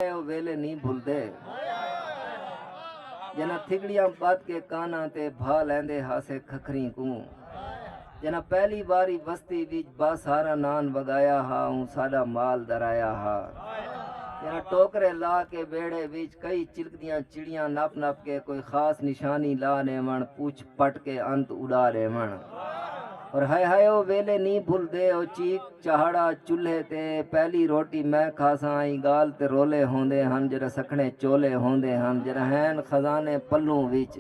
اے او ویلے نی بھلدے جنہاں تھگڑیاں پت کے کاناں تے بھا لیندے ہاسے کھکھریں کوں جنہاں پہلی واری وستی وچ با ساراں نان وگایا ہا اوں ساڈا مال درایا ہا جنہاں ٹوکرے لا کے ویڑھے وچ کئی چلکدیاں چڑیاں نپ نپ کے کوئی خاص نشانی لا ڈیون پوچھ پٹ کے انت اڈا ڈیون اور ہائے ہائے او ویلے نی بھل دے او چیک چہاڑا چولہے تے پہلی روٹی میں کھاساں آئی گال تے رولے ہوندے ہن جڑا سکھنے چولے ہوندے ہن جڑا ہین خزانے پلوں وچ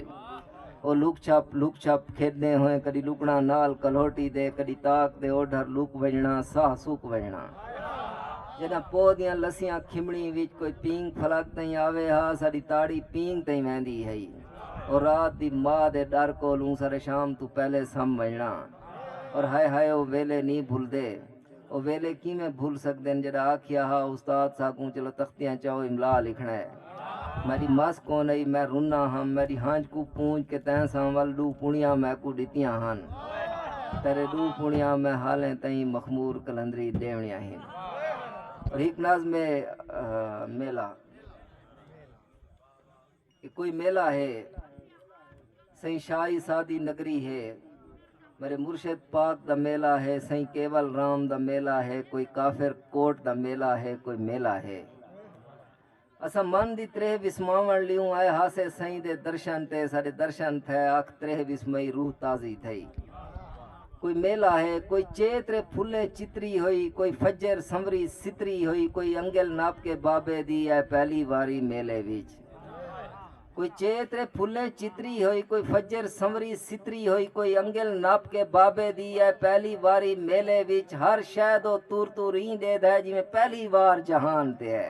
او لک چھپ لک چھپ کھیدے ہوئے کدی لکنا نال کلوٹی دے کدی تاک دے او ڈھر لک وجنا ساہ سک وجنا جڑا پو دیاں لسیاں کھمڑی وچ کوئی پینگ فلک تئیں آوے ہا ساڈی تاڑی پینگ تئیں ویندی ہئی او رات دی ماء دے ݙر کولوں سر شام توں پہلے سم ونڄݨا اور ہائے ہائے او ویلے نی بھلدے او ویلے کیویں بھل سڳدن جݙاں آکھیا ہا استاد ساکوں چلو تختیاں چاؤ املا لکھݨا ہے میݙی مس کونہی میں رناں ہم میݙی ہنج کوں پونج کے تیں ساں ول ݙو پݨیاں میکوں ݙتیاں ہن تیݙے ݙو پݨیاں میں حالیں تئیں مخمور قلندری ݙیوݨیاں ہن اور ہک نظم ہے میلہ۔ اے کوئی میلہ ہے سائیں شاہی سادی نگری ہے میرے مرشد پاک دا میلہ ہے سائیں کیول رام دا میلہ ہے کوئی کافر کوٹ دا میلہ ہے کوئی میلہ ہے اسا من دی تریہ وسماون لیوں آئے ہاسے سائیں دے درشن تے سارے درشن تھے اکھ تریہ وسمئی روح تازی تھئی کوئی میلہ ہے کوئی چیت رے پھلیں چتری ہوئی کوئی فجر سنوری ستری ہوئی کوئی انگل ناپ کے بابے دی اے پہلی واری میلے وچ کوئی چیت رے پھلیں چتری ہوئی کوئی فجر سنوری ستری ہوئی کوئی انگل ناپ کے بابے دی اے پہلی واری میلے وچ ہر شے دو تور تور رین دے دے جویں پہلی وار جہان تے ہے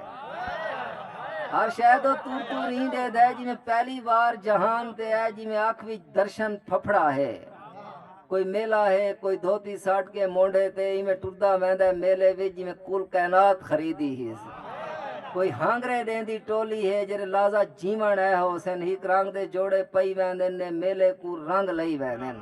ہر شے دو تور تور رین دے دے جویں پہلی وار جہان تے ہے جویں اکھ وچ درشن پھپھڑا ہے کوئی میلہ ہے کوئی دھوتی ساٹ کے مونڈے تے ایویں ٹردا ویندا ہے میلے وچ جویں کل کائنات خریدی ہی کوئی ہانگرے دین دی ٹولی ہے جڑے لازا جیون ہے ہو سن ہی رنگ دے جوڑے پئی ویندے نے میلے کو رنگ لئی ویندے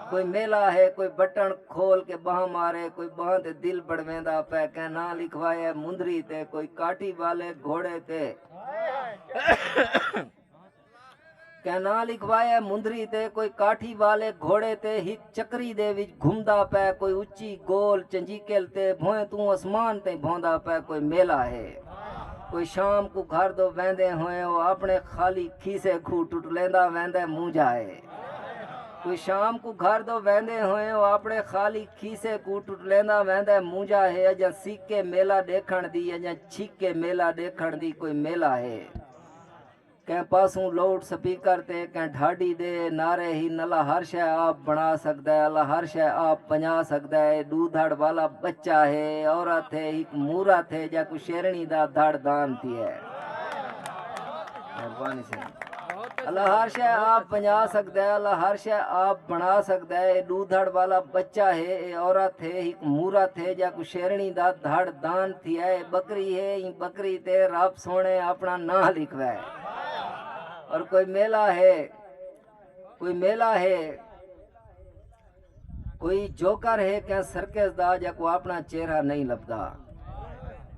کوئی میلہ ہے کوئی بٹن کھول کے باہ مارے کوئی باہ تے دل بڑویندا پے کہ نہ لکھوایا مندری تے کوئی کاٹی والے گھوڑے تے کینال اکوائے مندری تے کوئی کاٹھی والے گھوڑے تے ہک چکری دے وچ گھمدا پے کوئی اچھی گول چنجیکل تے بھوئیں توں اسمان تیں بھوندا پے کوئی میلہ ہے کوئی شام کو گھر دو ویندے ہوئے او اپنے خالی کھیسے گھو ٹٹلیندا ویندے مونجا ہے کوئی شام کو گھر دو ویندے ہوئے او اپنے خالی کھیسے کو ٹٹلیندا ویندے مونجا ہے اجاں سیکے میلہ دیکھن دی اجاں چھیکے میلہ دیکھن دی کوئی میلہ ہے کہیں پاسوں لاؤڈ سپیکر تے کہیں ڈھاڈی دے نعرے ہن اللہ ہر شے آپ بݨا سڳدا ہے اللہ ہر شے آپ پنڄا سڳدا ہے اے ݙو دھڑ والا ٻچہ ہے عورت ہے ہک مورت ہے جا کوں شیرݨی دا دھڑ دان تھی ہے مہربانی سائیں اللہ ہر شے آپ پنجا سکتا ہے اللہ ہر شے آپ بنا سکتا ہے ڈو دھڑ والا بچہ ہے اے عورت ہے ایک مورت ہے یا کو شیرنی دا دھڑ دان تھی ہے بکری ہے این بکری تے رب سوہݨے آپݨا ناں لکھوے اور کوئی میلہ ہے کوئی میلہ ہے کوئی جوکر ہے کہ سرکس دا جا کو اپنا چہرہ نہیں لبدا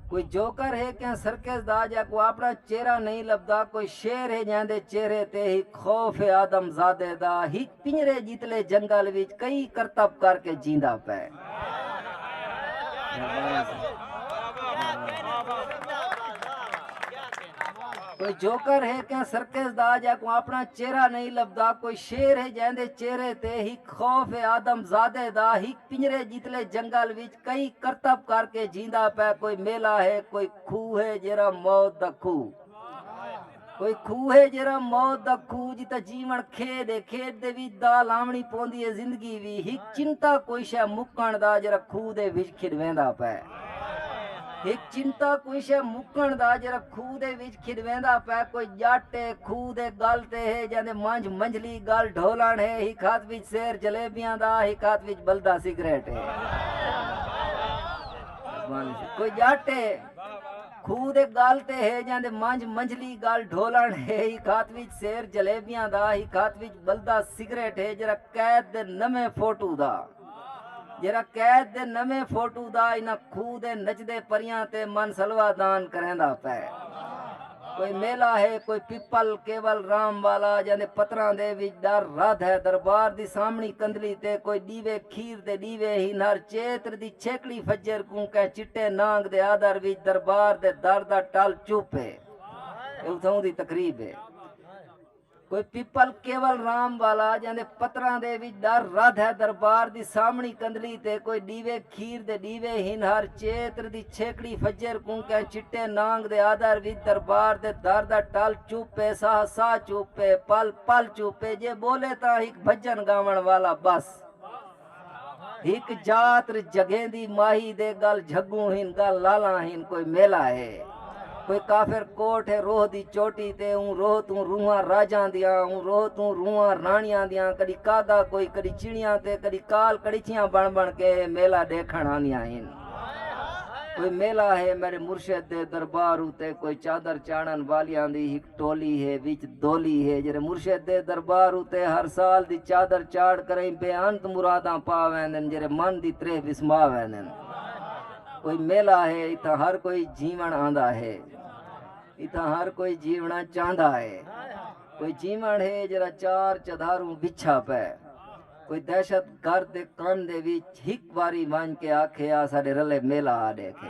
کوئی جوکر ہے کہ سرکس دا جا کو اپنا چہرہ نہیں لبدا کوئی شیر ہے جہاں دے چہرے تے ہی خوف آدم زادے دا ہی پنجرے جتلے جنگل وچ کئی کرتب کر کے جیندا پے کوئی جوکر ہے کیا سرکس دا جا کو اپنا چہرہ نہیں لبدا کوئی شیر ہے جہاں دے چہرے تے ہک خوف ہے آدم زادے دا ہک پنجرے جتلے جنگل وچ کئی کرتب کر کے جیندا پہ کوئی میلہ ہے کوئی کھو ہے جیرا موت دا کھو کوئی کھوہ ہے جیرا موت دا کھوہ جتا جیون کھیڈ ہے کھیڈ دے وچ دا لاونی پوندی ہے زندگی وی ہک چنتا کوئی شے مکن دا جیرا کھوہ دے وچ کھڈ ویندا پے ہک چنتا کوئی شے مکن دا جیرا کھوہ دے وچ کھڈ ویندا پے کوئی جٹ ہے کھوہ دے گل تے ہے جاندے منج منجلی گل ڈھولن ہے ہک ہاتھ وچ سیر جلیبیاں دا ہک ہاتھ وچ بلدا سگریٹ ہے کوئی جٹ ہے کھوہ دے ڳل تے ہے جاں دے منجھ منجھلی ڳل ڈھولݨ ہے، ہک ہتھ وچ سیر جلیبیاں دا، ہک ہتھ وچ ٻلدا سگریٹ ہے جیرھا قید دے نویں فوٹو دا، جیرھا قید دے نویں فوٹو دا انہاں کھوہ دے نچدے پریاں تے من سلوا دان کریندا پئے۔ کوئی میلہ ہے، کوئی پپل کیول رام والا جاں دے پتراں دے وچ ݙر ردھ ہے، دربار دی سامݨی کندھلی تے کوئی ݙیوے کھیر دے ݙیوے ہی نر چیتر دی چھیکڑی فجر کوں کہیں چٹے نانگ دے آدر وچ دربار دے در دا ٹل چپ ہے اے اتھاؤں دی تقریب ہے کوئی پپل کیول رام والا جاں دے پتراں دے وچ ڈر ردھ ہے دربار دی سامنی کندلی تے کوئی ݙیوے کھیر دے ݙیوے ہن ہر چیتر دی چھیکڑی فجر کوں کہیں چٹے نانگ دے آدر وچ دربار دے در دا ٹل چپ ہے ساہ ساہ چپ ہے پل پل چپ ہے جے ٻولے تاں ہک بھجن ڳاوݨ والا ٻس ہک جاتر جگہیں دی ماہی دے گل جھگوں ہن گل لالا ہن کوئی میلا ہے کوئی کافر کوٹ ہے روح دی چوٹی تے اون روح توں روحاں راجاں دیاں اون روح توں روحاں رانیاں دیاں کدی کاگا کوئی کدی چڑیاں تے کدی کال کڑیچیاں بن بن کے میلا دیکھن آندیاں ہن کوئی میلا ہے میرے مرشد دے دربار اتے کوئی چادر چاڑن والیاں دی ہک ٹولی ہے وچ دولی ہے جیرھے مرشد دے دربار اتے ہر سال دی چادر چاڑھ کرئیں بے انت مراداں پا ویندن جیرھے من دی تریہہ وسما ویندن کوئی میلہ ہے اتھاں ہر کوئی جیون آندا ہے اتھاں ہر کوئی جیونا چاہندا ہے کوئی جیون ہے جیرھا چار چدھاروں وچھا پے کوئی دہشت گرد دے کن دے وچ ہک واری ونج کے آکھے آ ساڈے رلے میلہ آ ڈیکھے